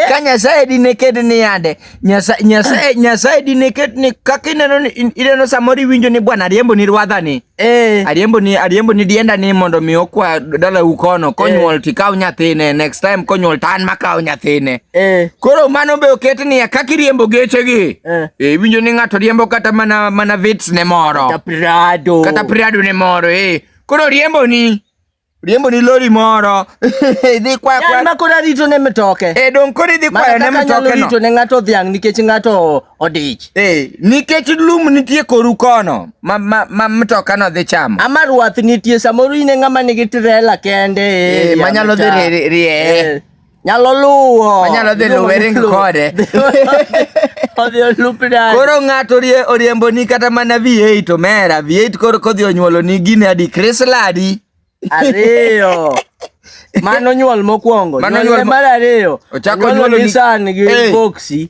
ka nyasaye dine ket ni yande nyasaye nyasaye dine ket ni kaka ineno ni ineno samoro iwinjo ni bwana ariembo ni rwadha ni eh. ariembo ni ariembo ni dienda ni mondo mi okwa dala u kono konyuol eh. tikaw nyathine next time konyuol tan makaw nyathine eh. koro mano be oket ni kaka iriembo geche gi eh. eh, iwinjo ni ng'ato riembo kata mana mana vits ne moro kata prado kata prado ne moro eh koro riembo ni riembo ni lori moro idhi kwa kwa yan makora rito ne mitoke e eh, don kori idhi kwa ne mitoke no rito ne ngato dhiang nikech ngato odich e eh, nikech lum nitie koru kono ma ma, ma mitoka no dhi chamo ama ruath nitie samoro ine ngama nigi trela kende e eh, manyalo dhi rie Nyalo luwo. Onyalo dhi luwe ring kode. Odhi olupna. Koro ng'ato oriembo ni kata mana V8 omera. V8 koro kodhi onyuolo ni gine adi Chrysler adi. Ariyo. Mano nyuol mokwongo. Mano nyuol mar ariyo. Ochako nyuolo ni Nissan gi Boxy.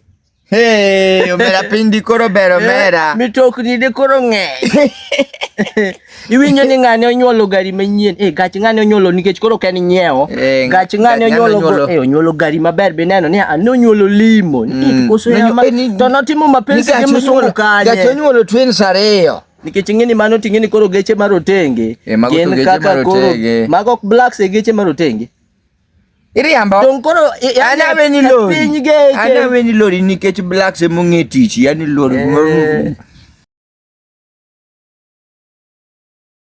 Hey, omera piny dikoro ber eh, omera. Mitokni dikoro ng'eny. Iwinjo ni ng'ane onyuolo gari manyien. Eh, gach ng'ane onyuolo nikech koro ken nyiewo. Eh, gach ng'ane onyuolo eh onyuolo gari maber be neno ni ano onyuolo limo. Mm. Koso ya ma eh, to notimo mapenzi gi msungu kanye. Gach onyuolo twins ariyo. Nikech ing'eni mano ting'eni koro geche marotenge. Eh, gin kaka koro mago blacks e geche marotenge. Iriambo. Don koro ana weni lori. Piny geche. Ana weni lori nikech blacks e mong'e tich, yani lori. Eh.